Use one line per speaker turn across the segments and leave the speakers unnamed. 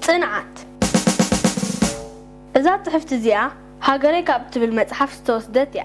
ጽንዓት እዛ ጽሕፍቲ እዚኣ ሃገረይ ካብ እትብል መጽሓፍ ዝተወስደት እያ።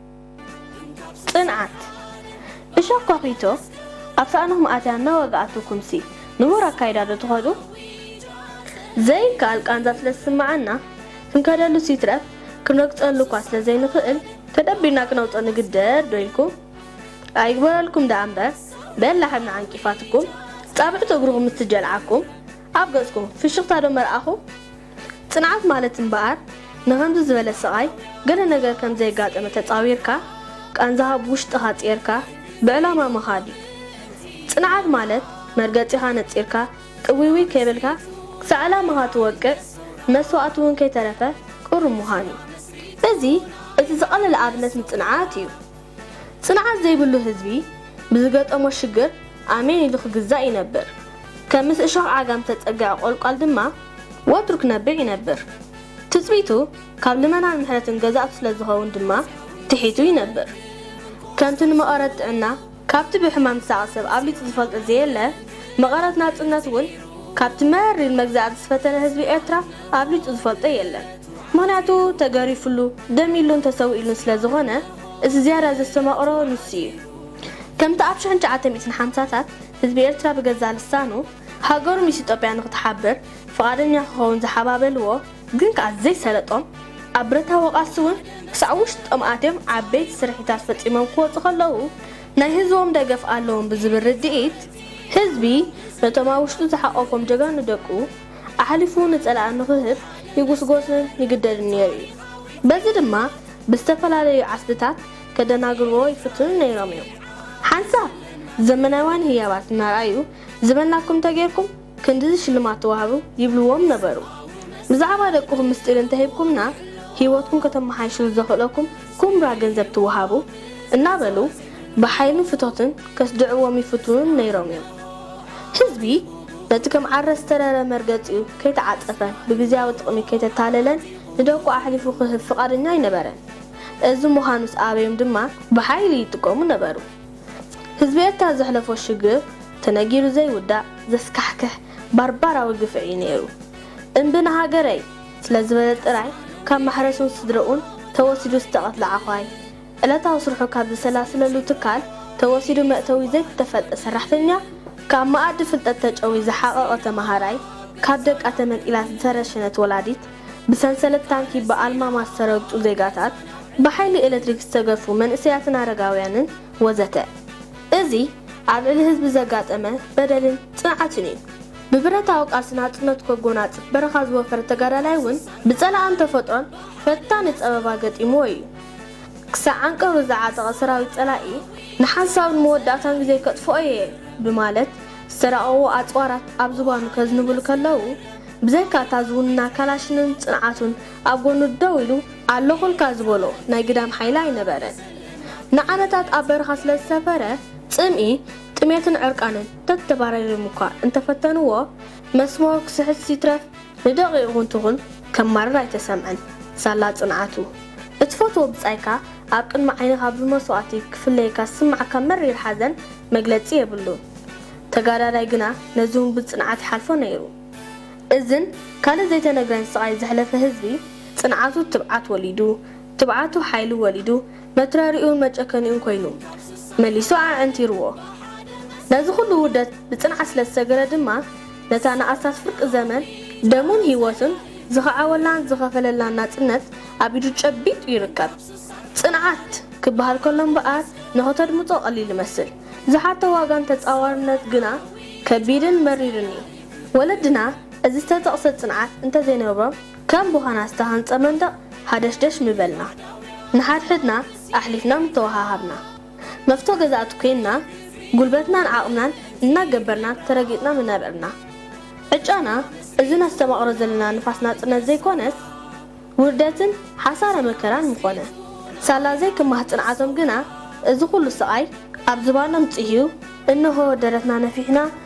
ጽንዓት! እሾኽ ኳኲቶ ኣብ ሳእንኹም ኣትያ እናወግኣትኩምሲ ንቡር ኣካይዳ ዶ ትኸዱ? ዘይከኣል ቃንዛ ስለ ዝስምዓና፣ ክንከደሉስ ይትረፍ ክንረግጸሉ'ኳ ስለ ዘይንኽእል ተደቢርና ክነውጽኦ ንግደድ ዶ ኢልኩም? ኣይግበረልኩም ደኣ'ምበር በላሕ እምኒ ዓንቂፋትኩም፣ ጻብዕቱ እግርኹም ምስ ትጀልዓኩም ኣብ ገጽኩም ፍሽኽታ ዶ መርኣኹም? ጽንዓት ማለት እምበኣር ንኸምዚ ዝበለ ስቓይ ገለ ነገር ከም ዘየጋጠመ ተጻዊርካ ቃንዛኻ ብውሽጥኻ ጽይርካ ብዕላማ ምኻድ እዩ። ጽንዓት ማለት መርገጺኻ ነጺርካ ጥውይውይ ከይበልካ ክሳዕ ዕላማኻ ትወቅዕ መስዋእቲ እውን ከይተረፈ ቅሩብ ምዃን እዩ። እዚ እቲ ዝቐለለ ኣብነት ንጽንዓት እዩ። ጽንዓት ዘይብሉ ህዝቢ ብዝገጠሞ ሽግር ኣሜን ኢሉ ክግዛእ ይነብር። ከም ምስ እሾኽ ዓጋም ዝተጸግዐ ቆልቋል ድማ ወትሩ ክነብዕ ይነብር። ትጽቢቱ ካብ ልመናን ምሕረትን ገዛእቱ ስለ ዝኸውን ድማ ትሒቱ ይነብር። ከምቲ ንመቐረት ጥዕና ካብቲ ብሕማም ዝሳቐ ሰብ ኣብሊጹ ዝፈልጦ ዘየለ፣ መቐረት ናጽነት'ውን ካብቲ መሪር መግዛእቲ ዝፈተነ ህዝቢ ኤርትራ ኣብሊጹ ዝፈልጦ የለን። ምኽንያቱ ተገሪፍሉ፣ ደሚሉን ተሰዊእሉን ስለ ዝኾነ፣ እቲ ዝያዳ ዘስተማቕሮ ንሱ ኢዩ። ከምቲ ኣብ ሽሕን ትሽዓተ ሚእትን ሓምሳታት ህዝቢ ኤርትራ ብገዛእ ልሳኑ ሃገሩ ምስ ኢትዮጵያ ንኽትሓብር ፍቓደኛ ክኸውን ዝሓባበልዎ፣ ግን ከኣ ዘይሰለጦም፣ ኣብ ብረታዊ ቃልሲ'ውን ክሳዕ ውሽጦም ኣትዮም ዓበይቲ ስርሒታት ፈጺሞም ክወጹ ከለዉ፣ ናይ ህዝቦም ደገፍ ኣለዎም ብዝብል ርድኢት፣ ህዝቢ ነቶም ኣብ ውሽጡ ዝሓቖፎም ጀጋኑ ደቁ፣ ኣሕሊፉ ንጸላኢ ንኽህብ ይጉስጎስን ይግደድን ነይሩ እዩ። በዚ ድማ ብዝተፈላለዩ ዓስብታት ከደናግርዎ ይፍትኑ ነይሮም እዮም። ሓንሳብ ዘመናውያን ህያባት እናርኣዩ ዝበልናኩም እንተጌርኩም ክንድዚ ሽልማት ትወሃቡ ይብልዎም ነበሩ። ብዛዕባ ደቅኹም ምስጢር እንተሂብኩምና ህይወትኩም ከተመሓይሽሉ ዘኽእለኩም ኩምራ ገንዘብ ትወሃቡ እናበሉ ብሓይልን ፍቶትን ከስድዕዎም ይፍትኑ ነይሮም እዮም። ህዝቢ። ነቲ ከም ዓረ ዝተረረ መርገጺኡ ከይተዓጸፈ ብግዝያዊ ጥቕሚ ከይተታለለን ንደቁ ኣሕሊፉ ክህብ ፍቓደኛ ኣይነበረን። እዚ ምዃኑስ ኣበዩም ድማ ብሓይሊ ይጥቀሙ ነበሩ። ህዝቢ ኤርትራ ዘሕለፎ ሽግር ተነጊሩ ዘይውዳእ ዘስካሕክሕ ባርባራዊ ግፍዒ እዩ ነይሩ። እምቢ ንሃገረይ! ስለዝበለ ጥራይ ካብ ማሕረሱን ስድረኡን ተወሲዱ ዝተቐትለ ዓዃይ፣ ዕለታዊ ስርሑ ካብ ዘሰላስለሉ ትካል ተወሲዱ መእተዊ ዘይተፈልጠ ሰራሕተኛ፣ ካብ መኣዲ ፍልጠት ተጨውዩ ዝሓቐቐ ተመሃራይ፣ ካብ ደቃ ተመንጢላ ዝተረሸነት ወላዲት፣ ብሰንሰለት ታንኪ ብኣልማማ ዝተረግጹ ዜጋታት፣ ብሓይሊ ኤለትሪክ ዝተገፉ መንእሰያትን ኣረጋውያንን ወዘተ። እዚ ኣብ ልዕሊ ህዝቢ ዘጋጠመ በደልን ጽንዓትን እዩ። ብብረታዊ ቃልሲ ናጽነቱ ከጎናጽፍ በረኻ ዝወፈረ ተጋዳላይ እውን ብጸላእን ተፈጥሮን ፈታኒ ጸበባ ገጢምዎ እዩ። ክሳዕ ዓንቀሩ ዝዓጠቐ ሰራዊት ጸላኢ ንሓንሳብ ንመወዳእታን ግዜ ከጥፍኦ እየ ብማለት ዝተራቐቑ ኣጽዋራት ኣብ ዝባኑ ከዝንቡሉ ከለዉ፣ ብዘይካ እታ ዝውንና ካላሽንን ጽንዓቱን ኣብ ጎኑ ደው ኢሉ ኣለኹልካ ዝበሎ ናይ ግዳም ሓይሊ ኣይነበረን። ንዓመታት ኣብ በረኻ ስለ ዝሰፈረ፣ ጽምኢ፣ ጥሜትን ዕርቃንን ተተባራሪሮም'ኳ እንተፈተንዎ፣ መስመሩ ክስሕት ይትረፍ፣ ንደቒቑ እውን ትኹን ከማርር ኣይተሰምዐን። ሳላ ጽንዓቱ። እትፈትዎ ብጻይካ ኣብ ቅድሚ ዓይንኻ ብመስዋእቲ ክፍለየካ ዝስምዓካ መሪር ሓዘን መግለጺ የብሉን። ተጋዳላይ ግና ነዚ እውን ብጽንዓት ይሓልፎ ነይሩ። እዝን ካልእ ዘይተነግረን ስቓይ ዘሕለፈ ህዝቢ፣ ጽንዓቱ ትብዓት ወሊዱ፣ ትብዓቱ ሓይሊ ወሊዱ፣ መትረሪኡን መጨከኒኡን ኮይኑ፣ መሊሱ ኣዐንቲሩዎ። ነዚ ኩሉ ውርደት ብጽንዓት ስለ ዝሰገረ ድማ ነታ ንኣስታት ፍርቂ ዘመን ደሙን ህይወቱን ዝኸዓወላን ዝኸፈለላን ናጽነት ኣብ ኢዱ ጨቢጡ ይርከብ። ጽንዓት! ክበሃል ከሎ እምበኣር ንኽተድምጾ ቀሊል ይመስል። ዝሓቶ ዋጋን ተጻዋርነት ግና ከቢድን መሪርን እዩ። ወለድና እዚ ዝተጠቕሰ ጽንዓት እንተዘይነበሮም ከም ብዃና ዝተሃንጸ መንደቕ ሃደሽደሽ ምበልና። ንሓድሕድና ኣሕሊፍና ምተወሃሃብና። መፍቶ ገዛእቲ ኮይንና ጉልበትናን ዓቕምናን እናገበርና ተረጊጥና ምነበርና። ዕጫና እዚ ነስተማቕሮ ዘለና ንፋስ ናጽነት ዘይኮነስ ውርደትን ሓሳረ መከራን ምኾነ። ሳላ ዘይክማህ ጽንዓቶም ግና እዚ ኩሉ ስቓይ ኣብ ዝባኖም ጽህዩ እነሆ ደረትና ነፊሕና